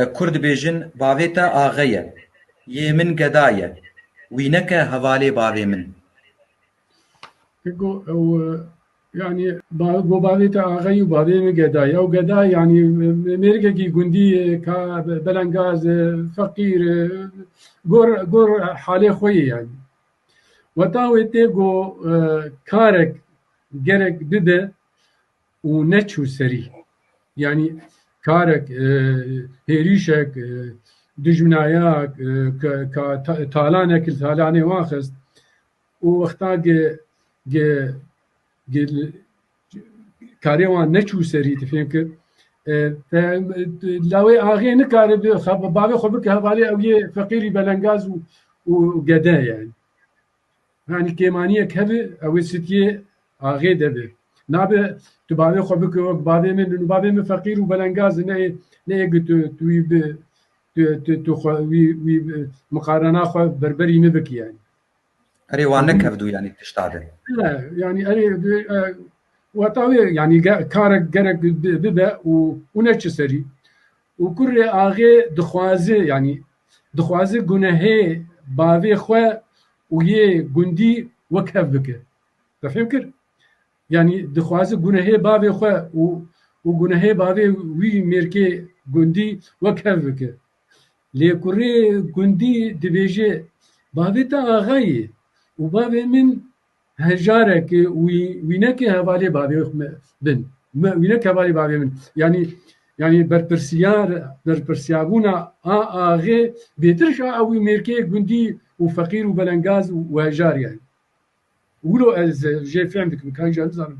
Kurd dibêjin bavê te axe ye, yê min geda ye, wî neke hevalê bavê min. Go ew yanî go bavê te axe ye û bavê min geda ye. Ew geda yanî mêrikekî gundî ye ka belengaz e, feqîr e, gor gor halê xwe yê yanî. Weta wê tê go karek gerek bibe û neçû serî. Yanî karek, hêrîşek, dijminayak, talanek li talanê wan xist û wexta karê wan neçû serî tu fêm kir lawê axê nikare bavê xwe bike hevalê ew yê feqîrî belengaz û gede ye. Yanî kêmaniyek hebe ew ê sitiyê axê de be. Nabe tu bavê xwe bike wek bavê min in û bavê min feqîr û belengaz in neyê neyê ku tu tu wî bi tu tu tu xwe wî wî miqarena xwe berberî min bikî yanî. Erê wan nekevdû yanî tişta de. Ne yanî erê weta wê yanî ge karek gerek bibe û û neçi serî. Û kurê axê dixwaze yanî dixwaze gunehê bavê xwe û yê gundî wek hev bike. Tefhîm kir? Yanî dixwaze gunehê bavê xwe û û gunehê bavê wî mêrkê gundî wek hev bike. Lê kurê gundî dibêje, Bavê te axa yê û bavê min Hejarekê wî wî neke hevalê bavê me bin. Me wî neke hevalê bavê min. Yanî yanî berpirsyar berpirsyabûna a axê bêtirş a ewî mêrkê gundî û feqîr û belengaz û hejar yani. Wilo ez jê fehm dikim kan jî nizanim.